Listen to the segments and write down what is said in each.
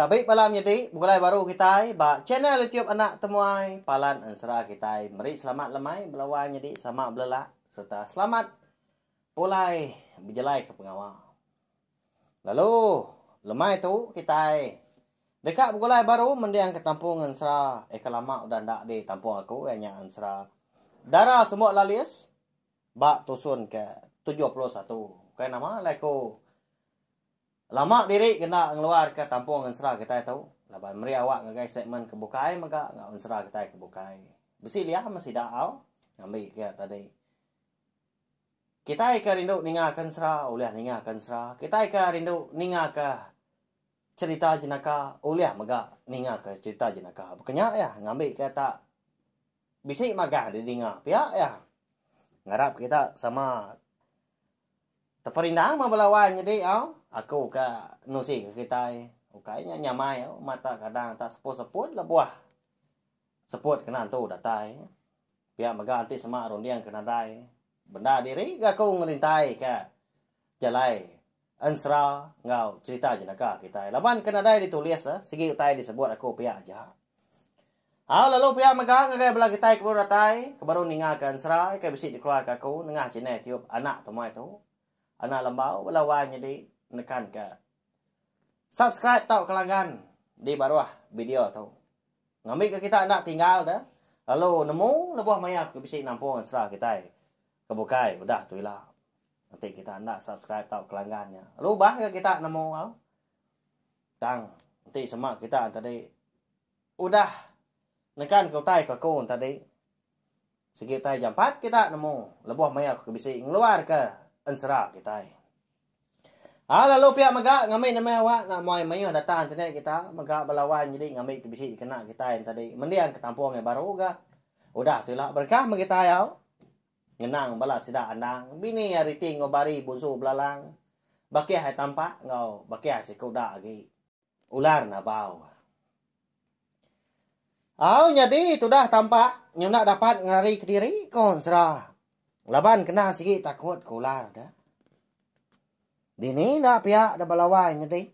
Tabi bala menyedi begulai baru kitai ba channel YouTube Anak Temuai Palan Ensera kitai meri selamat lemai bala wai nyedi sama belelak sereta selamat pulai bejalaika pengawa. Lalu lemai tu kitai deka begulai baru mendingka tampung ensera eka lama udah enda di tampung aku iya nya ensera Dara Sumbok Lalis ba tusun ke tujuh puluh satu. Ukai nama alai ku. Lama diri kena ngeluarka tampung ensera kitai tu laban meri awak ngagai segmen ke bukai mega enggau ensera kitai ke bukai. Bisi liam sida au ngambi ke tadi. Kitai ke rindu ningaka ensera ulih ningaka ensera, kitai ke rindu ningaka cherita jenaka ulih mega ningaka cherita jenaka. Baka nya iya ngambi ke tak bisi magah didinga pia iya. Ngarap kita sama Teperindang mah bela wan nyedi au. Aku ka nusi ke kitai. Ukai nya nyamai au mata kadang tak seput-seput lebuh seput kena entu datai. Pia mega enti sema runding ke nadai bendar diri ga aku ngerintai ka jalai ensera enggau cherita jenaka kitai. Laban ke nadai ditulis sigi utai disebut aku pia aja. Au lalu pia mega ngagai bala kitai ke baru datai, ke baru ningaka enserai ke bisi dikeluarka aku nengah chinai tiup anak temuai tu. Anak lembau bala wai nyedi nekanka subscribe tauka langgan di baruh video tu. Ngambika kita enda tinggal da lalu nemu lebuh maya aku bisi nampung ensera kitai ke bukai udah tu ila. Enti kita enda subscribe tauka langgan nya, lalu bah ga kita nemu au. Tang enti sema kita enti tadi Udah nekan ke utai ke aku tadi, sigi utai jampat kita nemu lebuh maya aku ke bisi ngeluarka ensera kitai. Au lalu pia mega ngambi nembiak awak enda muai mayuh data internet kita mega bala wan nyadi ngambi ke bisi dikena kitai tadi mendiang ke tampung yang baru ga. Udah tu ila berengkah meh kitai au. Ngenang bala sida andang, bini ari ti enggau bari bunsu belalang, bakih ai tampak enggau bakih ai sikuda agi. Ular Nabau. Au nyadi tudah tampak nyunak dapat ngelari kediri ko Ensera. Laban kena sigi takut ko ular da. Dini enda pia da belawai nyedi.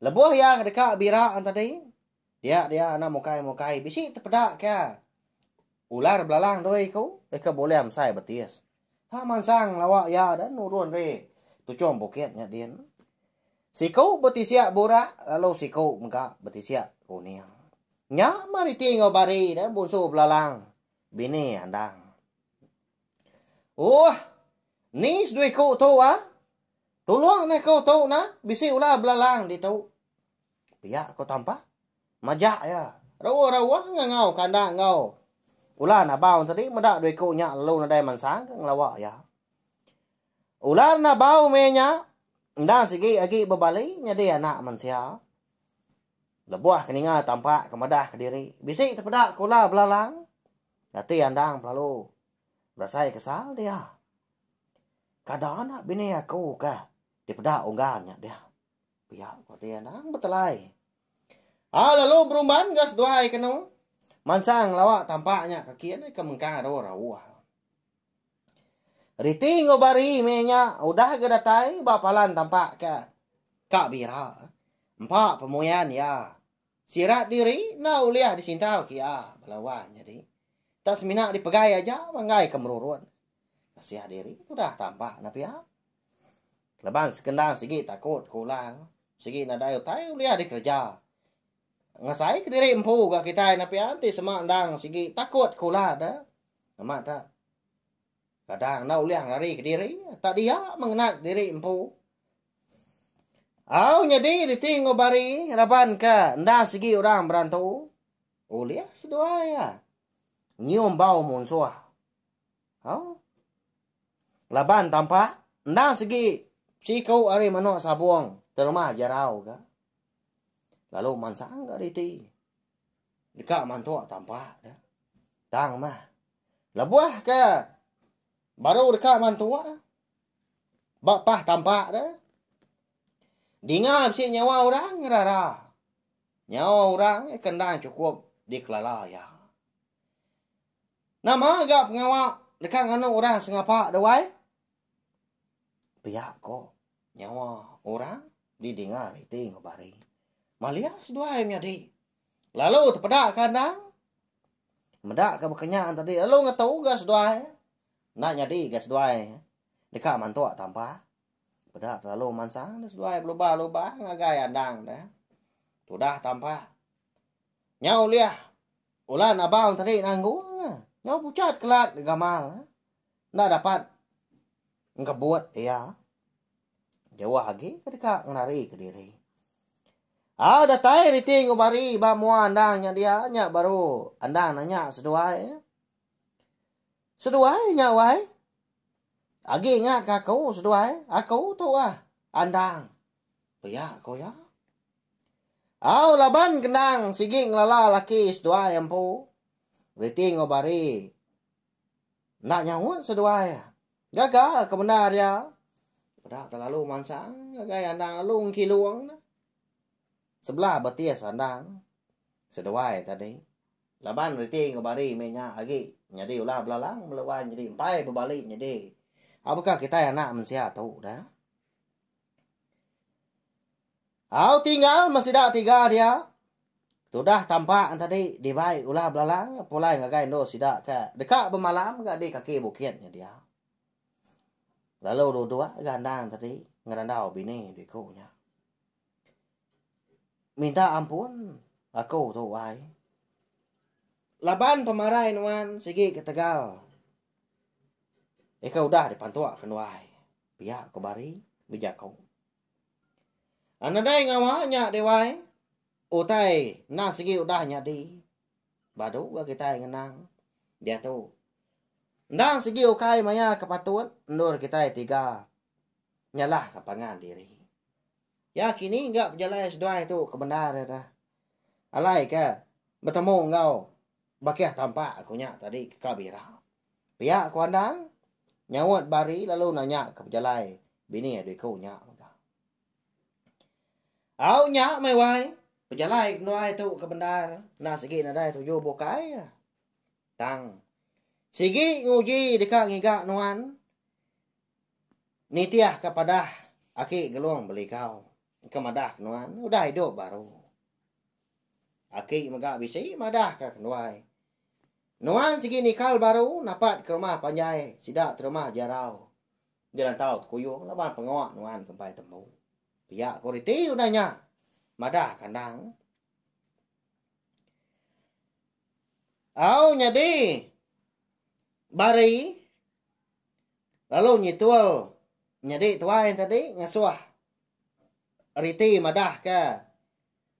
Lebuh iya kedeka bira an tadi, dia dia anak mukai-mukai bisi tepeda ke ular belalang doi ku ika bulih mesai betis. Tang mansang lawa iya dan nurun ri tuchum bukit nya din. Siku betisiak burak lalu siku mega betisiak kuning. Nya mariti enggau bari dan bunsu belalang bini andang. Uoh. Ni seduiku tu ah. Tulung neh ku tu nah bisi ular belalang ditu. Pia ko Tampa. Majak iya. Rauh-rauh ngangau kandang enggau Ulan Abau tadi meda dua iku nya lalu nadai mansang ke ngelawa iya. Ulan Abau meh nya enda sigi agi bebali nyadi anak mensia. Lebuh ke ninga Tampa ke madah kediri, bisi tepeda kula belalang. Ati Andang pelalu berasai kesal dia. Kada anak bini aku ke dipeda unggal nya dia. Pia ko ti anang betelai. Ha lalu berumban ga seduai kenu. Mansang lawa tampak nya kaki ni ke mengkang ro rauh. Riti ngo bari me nya udah ga datai ba palan tampak ke ka bira. Empa pemuyan ya. Sirat diri na ulih disintau kia belawa jadi. Tak semina dipegai aja manggai ke merurut. Kasiah diri udah tampak na pia. Laban sekendang sigi takut ku Lang, sigi nadai utai ulih dikereja. Ngasai kediri empu ga kitai napian ti sema endang sigi takut ku Lang da. Amat da. Kadang enda ulih ngelari kediri, tak dia mengenat diri empu. Au nyadi riti enggau bari laban ke enda sigi orang berantu. Ulih seduai ya. Nyium bau munsuh. Hau. Laban tampa endang segi siku ari manok sabong terumah jarau ga. Lalu mansang ga riti. Deka mantok tampa da. Tang mah. Lebuh ke baru deka mantok ba pah tampa da. Dinga bisi nyawa orang rara. Nyawa orang kendang cukup dikelala ya. Nama ga pengawa deka nganu orang sengapa da wai? Pia ko, nyawa orang didinga riti enggau bari. Malia seduai menyadi. Lalu tepeda ka endang. Meda ka bekenya tadi lalu ngetu ga seduai. Enda nyadi ga seduai deka mantuk tampa. Peda terlalu mansang da seduai belubah-lubah ngagai endang da. Tudah tampa. Nya ulih. Ulan abang tadi nanggung nya. Nyau pucat kelat gamal. Enda dapat ngebut iya. Jauh agi ke deka ngenari ke diri. Ah datai riti enggau bari ba mua endang nya dia nya baru endang nanya seduai. Seduai nya wai. Agi ingat ka aku seduai. Aku tu ah endang. Pia ko iya. Au laban kenang sigi ngelala laki seduai empu. Reti enggau bari. Nak nyaut seduai. Gaga ke benda dia. Pada terlalu mansang. Gagai andang lalu ngkilung. Sebelah betis andang. Seduai tadi. Laban reti enggau bari menya agi. Nyadi ulah belalang. Melewan nyadi empai bebalik nyadi. Apakah kitai anak mensia tu dah. Au tinggal meh sida tiga dia. Tudah tampak an tadi dibai ulah belalang pulai ngagai endur sida ke deka bemalam ga di kaki bukit nya dia. Lalu dua dua ga endang tadi ngerandau bini diku nya. Minta ampun aku tu ai. Laban pemarai nuan sigi ketegal. Ika udah dipantuk ke nuai. Pia ko Bari bejako. A nadai ngawa nya deh wai. Utai enda sigi udah nyadi. Badu ga kitai ngenang. Diatu. Enda sigi ukai maya ke patut endur kitai tiga nyalah ka pangan diri. Ya kini ga pejalai seduai tu ke bendar ira. Alai ke betemu enggau bakih tampak ku nya tadi ke ka bira. Pia ku Andang nyaut Bari lalu nanya ke pejalai bini adu iku nya mega. Au nya meh wai, pejalai kenuai tu ke bendar enda sigi nadai tuju bukai ka. Tang sigi nguji deka ngiga nuan nitihka padah aki Gelong Belikau. Engka madah ke nuan, udah idup baru. Aki mega bisi madah ke kenduai. Nuan sigi nikal baru napat ke rumah panjai sida terumah jarau. Dirantau tekuyung laban pengawa nuan ke empai tembu. Pia ko riti udah nya. Madah kandang. Au nyadi bari lalu nyitul nyadi tuai tadi ngasuh Riti madahka,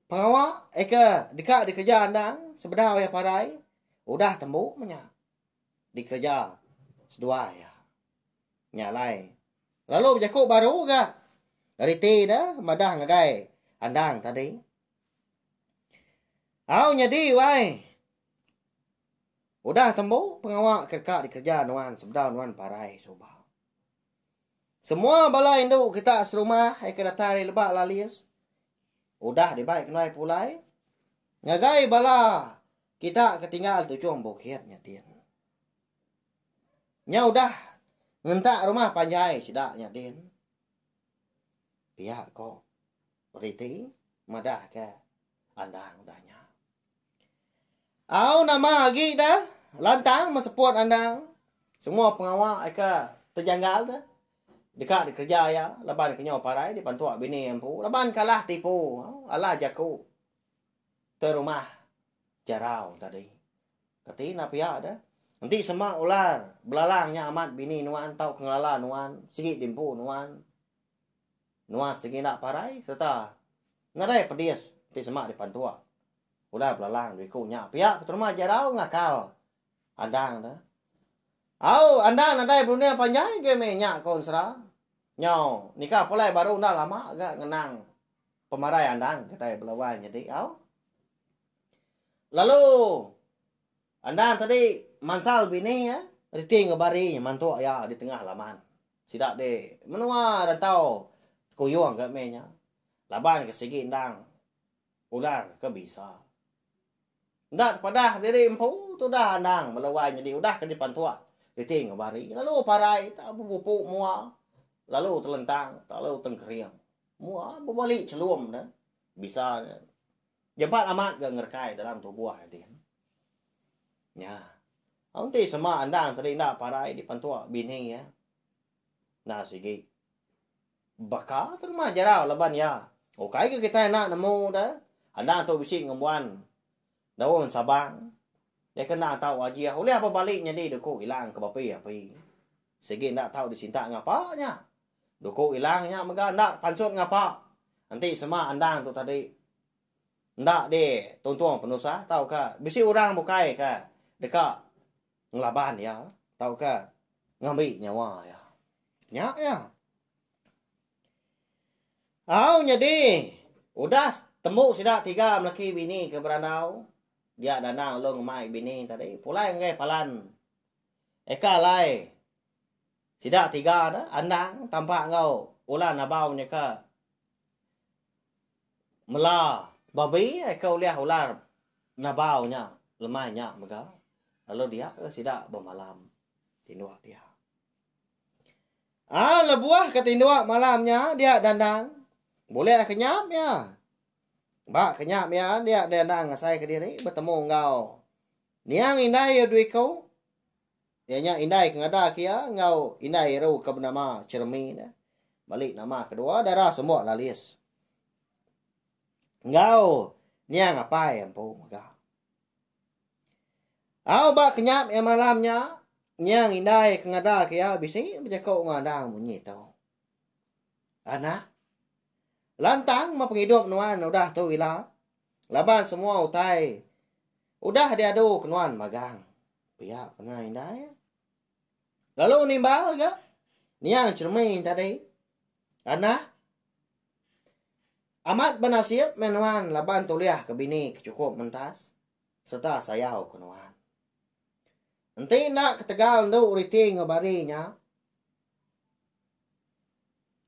pengawa eka deka dikereja endang sebedau iya parai udah tembu menya dikereja seduai iya. Nya alai lalu bejaku baru ga riti ne madah ngagai endang tadi. Au nyadi wai. Udah tembu pengawa ke deka dikereja nuan sebedau nuan parai suba. Semua bala indu kita serumah ai ke datai ari Lebak Lalis udah dibai ke nuai pulai ngagai bala kita ke tinggal tujung bukit nya din. Nya udah ngentak rumah panjai sida nya din. Pia ko beriti madah ke Andang dah nya. Au nama agi dah lantang meseput andang. Semua pengawa ika terjanggal dah. Deka dikereja iya laban kenyau parai dipantuk bini empu laban ke alah tipu, alah jaku ke rumah jarau tadi. Kati enda pia dah. Enti sema ular belalang nya amat bini nuan tauka ngelala nuan sigi di empu nuan. nuan sigi enda parai sereta nadai pedis ti semak dipantua. Udah belalang dua iku nya pia keterma jarau ngakal Andang tu. Au, Andang nadai berunding panjai ge meh nya ko Ensera. Nyau, nikah pulai baru enda lama ga ngenang pemarai Andang kitai bela wai nyadi au. Lalu. Andan tadi mansal bini iya, reti ngebari iya mantuk iya di tengah laman. Sida di menua rantau Tekuyung ga meh nya. Laban ke sigi endang ular ke bisa. Enda tepadah diri empu tudah Andan bala wai nyadi udah ke dipantuk reti ngebari lalu parai tau bebupu mua lalu telentang lalu tengkering. Mua bebali chelum ne bisa ne. Nyempat amat ga ngerekai dalam tubuh ading. Nya. Aun ti sema andang tadi enda parai di pentua bini ya. Nah sigi. Baka tu rumah jarau laban ya. Ukai ke kita nak nemu dah. Andang tu bisi ngembuan daun sabang. Dia kena tahu wajah. Ulih apa balik nyadi duku hilang ke bapi api. Sigi enda tahu disinta ngapa nya. Duku ilang nya mega enda pansut ngapa. Enti sema endang tu tadi enda di tuntung penusah tauka bisi orang bukai ke deka ngelaban iya tauka ngambi nyawa iya. Nya iya. Au nyadi udah tembu sida tiga melaki bini ke berandau dia dandang long mai bini tadi pulai ngagai palan eka alai. Sida tiga tu andang tampak enggau Ulan Abau nyeka mela babi ke ulih ular Nabau nya lemai nya mega lalu dia ke sida bemalam tinduk dia. Ah lebuh ke tinduk malam nya dia dandang bulih ke nyam iya. Ba ke nyam iya dia dandang asai kediri betemu enggau niang indai iya dua iku. Iya nya indai ke ngadak iya enggau indai eru ke benama Chermi ne. Bali nama kedua dara semua Lalis. Enggau niang apai empu mega. Au ba kenyap iya malam nya, niang indai ke ngadak iya bisi bejaku enggau anang munyi tu. Anak, lantang ma pengidup nuan udah tu ila. Laban semua utai udah diadu ke nuan magang. Pia pernah indai. Lalu nimbal ga niang cermin tadi. Anah Amat benasib meh nuan laban tuliah ke bini ke cukup mentas serta sayau ke nuan. Enti enda ketegal endu riti enggau bari nya,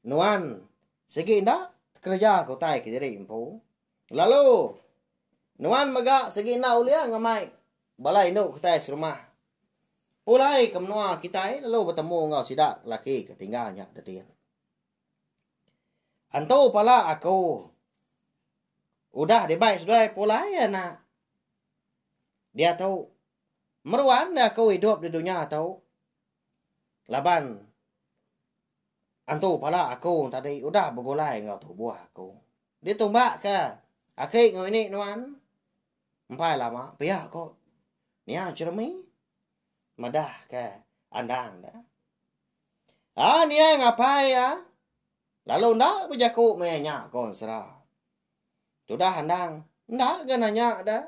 Nuan sigi enda kereja ke utai ke diri empu. Lalu nuan mega sigi enda ulih ngemai bala indu kitai serumah. Pulai ke menua kitai lalu betemu enggau sida lelaki ke tinggal nya Didin. Antu pala aku udah dibai seduai pulai anak. Diatu meruan aku idup di dunya tu. Laban antu pala aku tadi udah begulai enggau tubuh aku. Ditumbakka aki enggau ini nuan. Empai lama pia ko nia jeremie madah ke andang da. Ah nia ngapai ya. Lalu enda bejaku meh nya ko ensera. Tudah andang enda ga nanya da.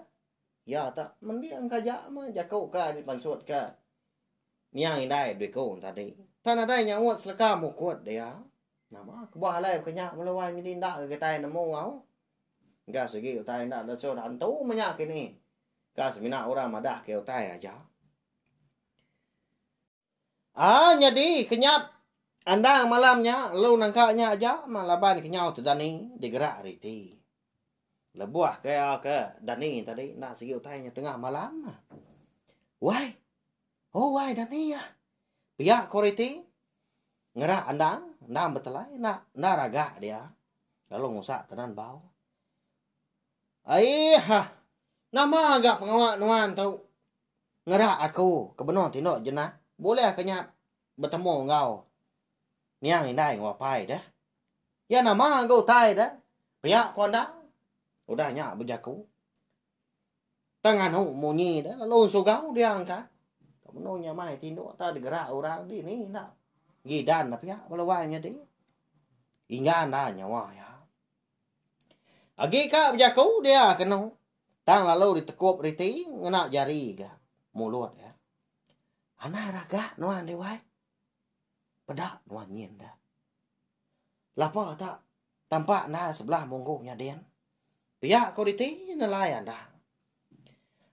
Iya tak mending kaja meh jaku ka dipansut ka niang indai biku tadi. Tang nadai nyaut seleka mukut dia. Nama kebuah alai baka nya bala wai nyadi enda ga kitai nemu au. Ga sigi utai enda disuh da entu menya kini. Ka semina orang madah ke utai aja. Ah nyadi kenyap andang malam nya lalu nangka nya aja mah laban kenyau tu dani digerak ari iti. Lebuh ke ke dani tadi enda sigi utai nya tengah malam. Wai. Oh wai dani ah. Pia ko ari iti ngerak andang, andang betelai enda enda ragak dia lalu ngusak tenan bau. Aii hah. Nama ga pengawa nuan tu? Ngera aku ke benung ti enda jenak bulih ke nya betemu enggau niang indai enggau apai deh. Iya nama ga utai deh pia ku andang udah nya bejaku. Tang nganu munyi deh lalu ensugau dia angkat. Ke benung nya mai ti enda tau digerak orang dini enda gidan deh pia bala wai nyadi. Inggan da nyawa iya. Agi ka bejaku dia kenu tang lalu ditekup riti ngena jari ga mulut iya. Anai raga nuan deh wai. Peda nuan nyin deh. Lapa ta tampa enda sebelah munggu nya din. Pia ko riti nelai anda.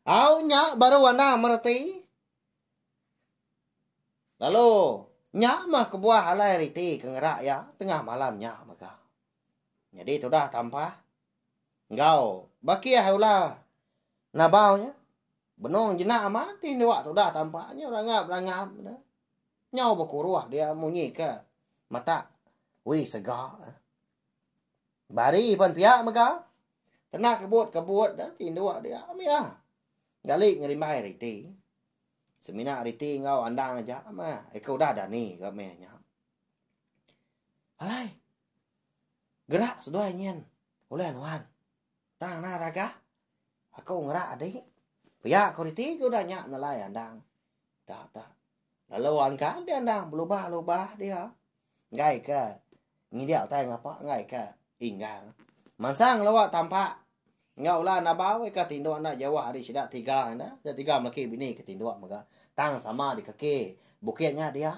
Au nya baru anda mereti. Lalu nya mah kebuah alai riti ke ngera iya tengah malam nya mega. Nyadi tudah tampa. Enggau bakih ula nabau nya. Benung jina amat ti dua tudah tampa nya berangap-berangap dah. Nyau bekuruh dia munyi ke mata wi sega. Bari pan pia mega. Kena kebut-kebut dah ti dua dia mia. Gali ngerimbai riti. Semina riti enggau andang aja mah. Eka udah dani ke meh nya. Alai. Gerak seduai nyin ulih nuan. Tang nah ragah aku ngerak adi. Pia ko reti ke udah nya nelai andang. Da ta. Lalu angkan di andang belubah-lubah dia. Enggai ke ngidik utai ngapa enggai ke inggar. Mansang ngelawa tampak enggau ulah nabau ika tinduk enda jauh ari sida tiga enda. Sida tiga melaki bini ke tinduk mega. Tang sama dikaki bukit nya dia.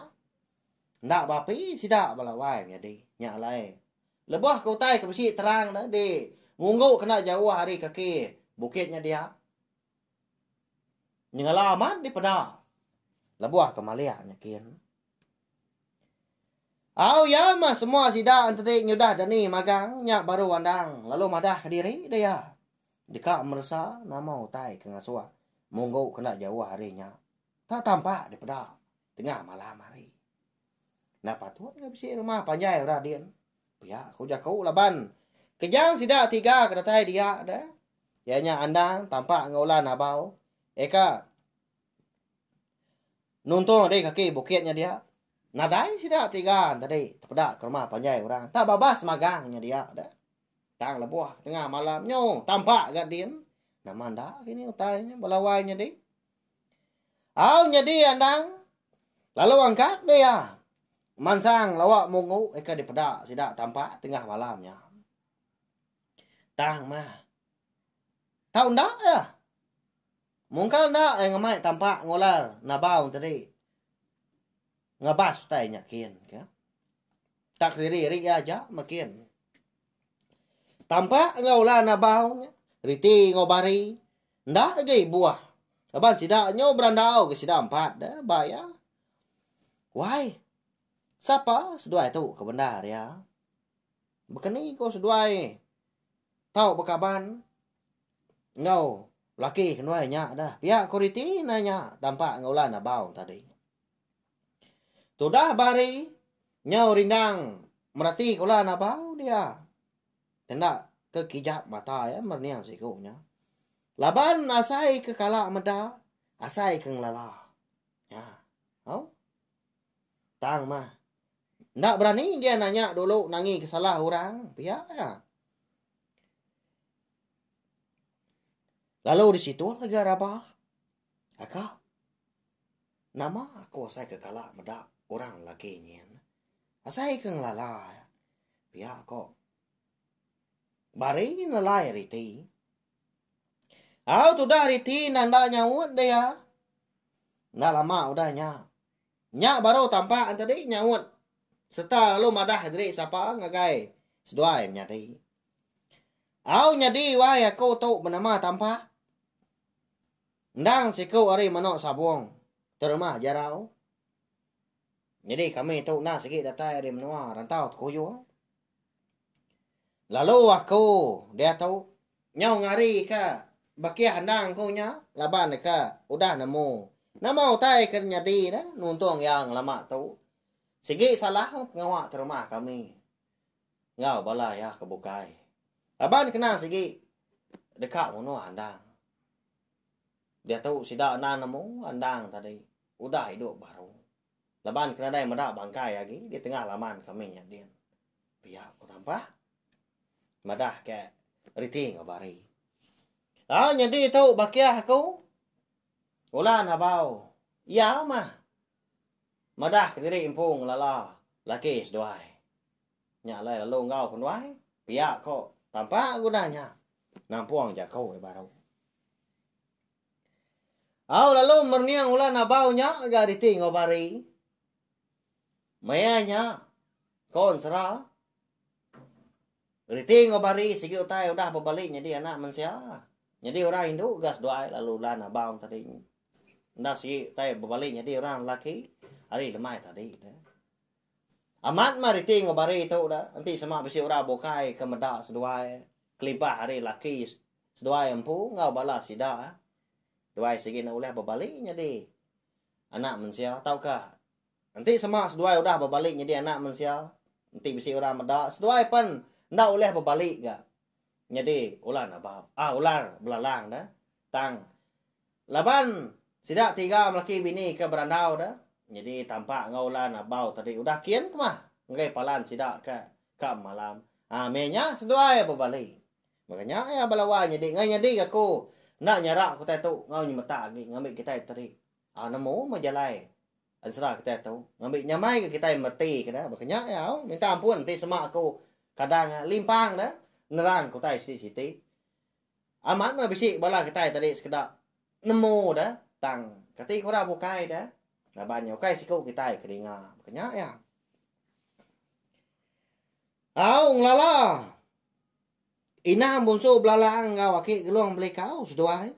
Enda beapi sida bala wai nyadi nya alai. Lebuh ke utai ke bisi terang dah di munggu kena jauh ari kaki bukit nya dia. Nyengela amat dipeda lebuh ke malik nya kin. Au ya mah semua sida enti nyudah dani magang nya baru andang lalu madah kediri dah ya. Deka meresa nama utai ke ngasuh munggu kena jauh ari nya. Tau tampak dipeda tengah malam hari. Enda patut ke bisi rumah panjai orang din. Pia ku jaku laban kejang sida tiga ke datai dia de iya nya Andang, Tampak enggau Ulan Abau. Eka nuntung diri kaki bukit nya dia. Nadai sida tiga tadi tepeda ke rumah panjai orang. Tak babas magang nya dia de. Tang lebuh tengah malam nyu tampak ga din. Nama enda kini utai nya bala wai nya dih. Au nyadi andang lalu angkat meh iya mansang lawa mungu ika dipeda sida tampak tengah malam nya. Tang mah tau enda iya. Mungkal enda ai ngemai tampak ngular nabau tadi ngabas utai nya kin ka. Tak kediri-iri iya aja makin. Tampak enggau la nabau nya, riti enggau bari, enda agi buah. Laban sida nyu berandau ke sida empat deh ba iya. Wai, sapa seduai tu ke bendar iya? Bekeni ko seduai tau bekaban enggau laki ke nduai nya deh. Pia ko riti nanya tampak enggau la nabau tadi. Tudah ba hari nyau rindang merati ke ulan abau dia. Kena ke kijap mata iya merening siku nya. Laban asai ke kala meda, asai ke ngelala. Ya. Au. Tang mah. Nda berani dia nanya dulu nangi ke salah orang. Pia ya. Lalu di situ lagi Rabah. Aka, nama aku asai ke kala meda orang lagi nyin? Asai ke ngelala pia ko. Bari nelai ari ti. Au tudah ari ti enda enda nyaut dia. Enda lama udah nya. Nya baru tampak enti di nyaut serta lalu madah diri sapa ngagai seduai menyadi. Au nyadi wai aku tu benama tampak. Endang siku ari menoa sabong terima jarau. Nyadi kami tu enda sigi datai ari menoa rantau tekuyung. Lalu aku dia tu nyau ngari ke bakih endang ku nya laban deka udah nemu nama utai ke nyadi dah nuntung iya ngelama tu. Sigi salah pengawa terima kami. enggau bala iya ke bukai. Laban kena sigi deka munuh andang. Diatu sida enda nemu andang tadi udah idup baru. Laban ke nadai meda bangkai agi di tengah laman kami nya din. Pia ku Tampak madah ke reti enggau bari. Au nyadi tu bakih aku. Ulan abau. Iya mah. Madah kediri empu ngelala laki seduai. Nya alai lalu enggau ku nuai, pia ko tampa guna nya nampung jaku ke baru. Au lalu merning ulan abau nya ga diti enggau bari. Maya nya ko ensera. Reti enggau bari sigi utai udah bebali nyadi anak mensia. Nyadi orang indu ga seduai lalu ulan abang tadi. Enda sigi utai bebali nyadi orang lelaki ari lemai tadi da. Amat mah reti enggau bari tu da, enti sema bisi orang bukai ke meda seduai kelibah ari lelaki seduai empu enggau bala sida duai sigi enda ulih bebali nyadi anak mensia tauka Enti sema seduai udah bebali nyadi anak mensia, enti bisi orang meda, seduai pen enda ulih bebali ga nyadi ular nabau, ah ular belalang da. Tang laban sida tiga melaki bini ke berandau da, nyadi tampak enggau ular nabau tadi udah kin kemah enggai palan sida ke ka malam. Ah meh nya seduai bebali. Baka nya iya belawa nyadi, ngai nyadi ga ku enda nyara utai tu enggau nyemetak agi ngambi kitai teri. Au nemu meh jalai ensera kitai tu ngambi nyamai ke kitai mereti ke da baka nya ya au minta ampun enti sema aku kadang limpang da nerang ke utai siti-siti. Amat meh bisi bala kitai tadi sekeda nemu da tang kati ke orang bukai da laban nya ukai siku kitai ke dinga baka nya ya. Au ngelala inang bunsu belalang enggau aki Gelong Belikau seduai.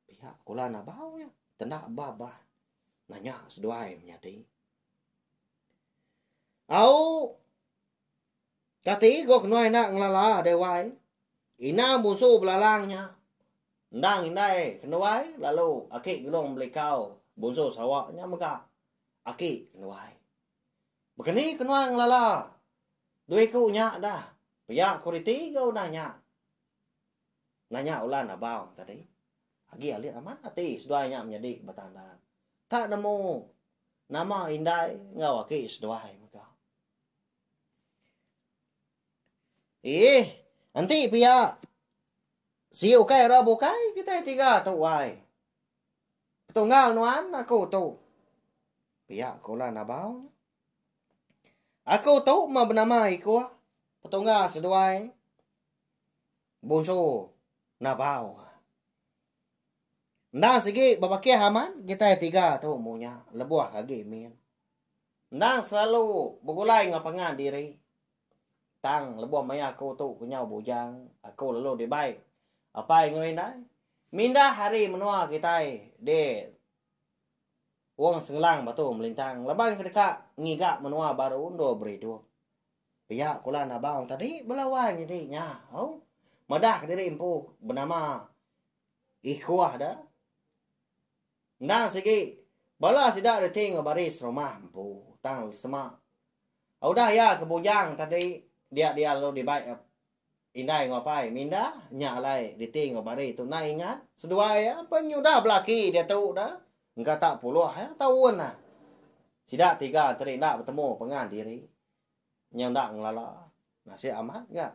Pia kula nabau iya. Kena ba bah. Nanya seduai menyadi. Au. Kati go kena enda ngelala dewai. Ina musu belalang nya. Endang indai kenuai lalu aki gelung belikau bunsu sawa nya mega aki kenuai. Bekeni kenuai ngelala. Dua iku nya dah. Pia kuriti go udah nya. Nanya Ulan Abang tadi, agi alit amat ati seduai nya menyadi ba tanda. Ka nemu nama indai enggau agi seduai mega. Ih, enti pia si ukai ra bukai kitai tiga tu wai. Tunggal nuan aku tu. Pia ke Ulan Abang. Aku tu mah benama iko. Petunggal seduai. Bonso Nabau. Endang sigi bebakih aman kitai tiga tu mu nya lebuh agi min. Endang selalu begulai enggau pangan diri. Tang lebuh maya aku tu kenyau bujang, aku lalu dibai apai enggau indai. Mindah ari menua kitai di Wong Sengelang Batu Melintang laban ke deka ngiga menua baru endur beridup. Pia kulan abang tadi bela wai nyadi nya au. Madah diri empu benama Ikuah da. Endang sigi bala sida reti enggau baris rumah empu tang sema udah iya ke bujang tadi dia dia lalu dibai indai enggau apai minda nya alai reti enggau baris tu enda ingat seduai iya pen nya udah belaki diatu da engka tak puluh taun dah. Sida tiga tadi enda betemu pengan diri. nya enda ngelala nasib amat ga.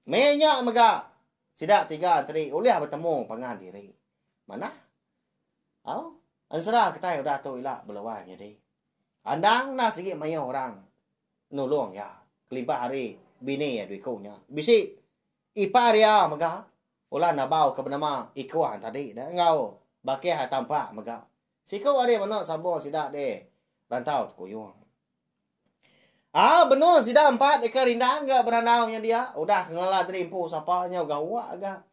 Meh nya mega sida tiga enteri ulih betemu pangan diri. Manah? Au, ensera kitai udah tu ila beluai nyadi. Andang enda sigi mayuh orang nulung iya kelimpah ari bini iya dua iku nya. Bisi ipar iya mega ulah nabau ke benama ikuh yang tadi deh enggau bakih iya tampak mega. Siku ari menu sambung sida deh rantau tekuyung. Ah benung sida empat eka rindang ga berandau nya dia. Udah ke ngelala tadi empu sapa nyau gawa ga.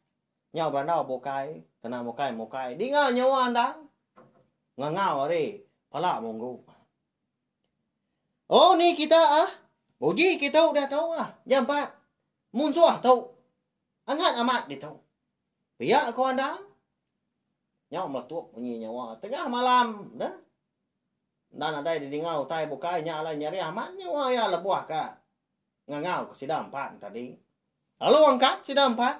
Nyau berandau bukai, kena mukai mukai. Dinga nyawa endang. Ngangau hari pala munggu. Oh ni kita ah. Uji kita udah tau ah. Nya empat. Munsuh tau. Angat amat ditu. Pia ko endang. Nyau meletup bunyi nyawa. Tengah malam dah. Enda nadai didinga utai bukai nya alai nyerih amat nyua iya lebuh ka ngangau ke sida empat enti adi. Lalu angkat sida empat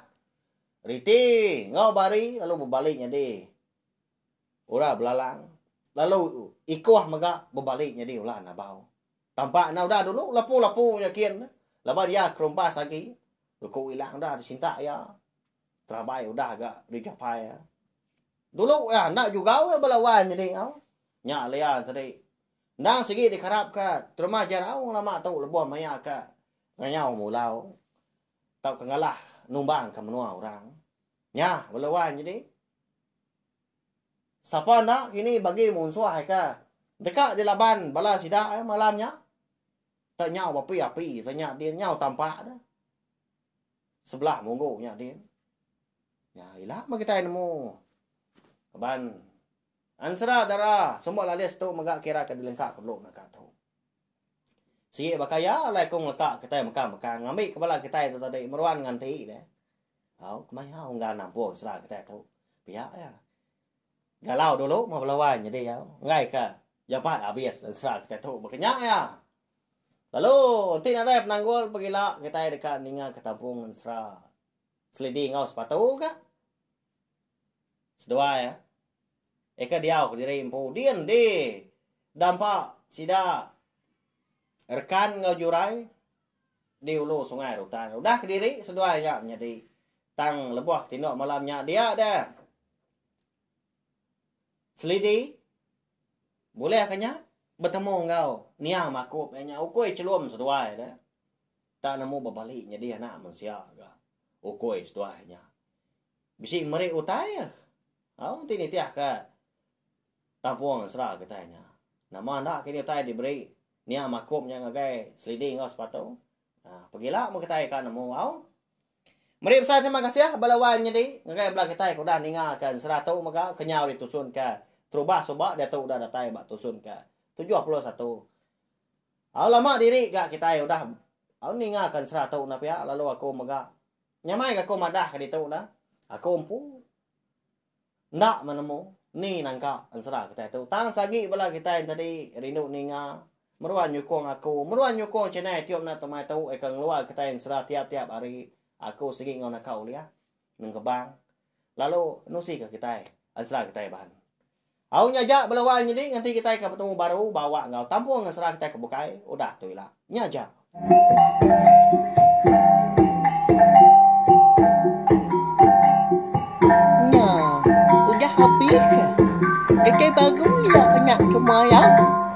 Riti enggau Bari lalu bebali nyadi ura belalang lalu Ikoh mega bebali nyadi ula nabau. Tampak enda udah dulu lapu-lapu nya kin laban iya kerumpas agi. Luku Ilang udah disintak iya. Terabai udah ga digapai iya. Dulu iya enda jugau iya bala wai nyadi enggau. Nya Lea tadi. Endang sigi dikarapka terma Jaraung lama tu lebuh maya ka ngayau mulau tauka ngalah numbangka menua orang. Nya bala wan nyadi. Sapa enda kini bagi munsuh ka deka dilaban bala sida eh malam nya. Tak nyau bapi api ta nya din nyau tampak dah. Sebelah munggu nya din. Nya ila meh kitai nemu. Laban. Ansra dara semua lalis tu mega kira ke dilengka ke belum naka tu. Sigi baka iya alai ku ngeleka kitai meka meka ngambi ke bala kitai tu tadi meruan nganti dia. Au kemaya ungga nampung ansra kitai tu. Pia iya. Galau dulu meh bala wai nyadi iya. Enggai ka jampat habis ansra kitai tu baka nya iya. Lalu enti nadai penanggul pegila kitai deka ninga ke tampung ansra selidi enggau sepatu ka. Seduai ya. Eka diau ke diri empu din di dampa sida rekan enggau jurai di ulu sungai rutan. Udah ke diri seduai nya menyadi tang lebuh tindok malam nya dia de selidi bulih ke nya betemu enggau nia makup iya nya ukui chelum seduai de tak nemu bebali nyadi anak mensia ga ukui seduai nya. Bisi meri utai ah. Au ti nitih ke tampung sera kitai nya. Nama enda kini utai diberi nia makum nya ngagai selidi enggau sepatu. Ah, pegila mun kitai ka nemu au. Meri pesan terima kasih bala wai menyedi ngagai bala kitai ke udah ninga ke ensera tu mega kenyau ditusun ke terubah suba diatu udah datai ba tusun ke 71. Au lama diri ga kitai udah au ninga ke ensera tu na pia lalu aku mega Nyamai ga aku madah ke ditu dah. Aku empu enda menemu ni nangka ensera kitai tu. Tang sagi bala kitai entadi rindu ninga, meruan nyukung aku, meruan nyukung channel Tiup Enda Tumai tu eka ngeluar kitai ensera tiap-tiap hari. Aku sigi enggau naka ulih nengkebang lalu nusi ke kitai ensera kitai bahan. Au nya aja belawan nyadi ngenti kitai ka betemu baru ba awak enggau tampung ngesera kitai ke bukai udah tu ila. Nya aja. Nya udah habis. Kitai baru ila nya ke mayang.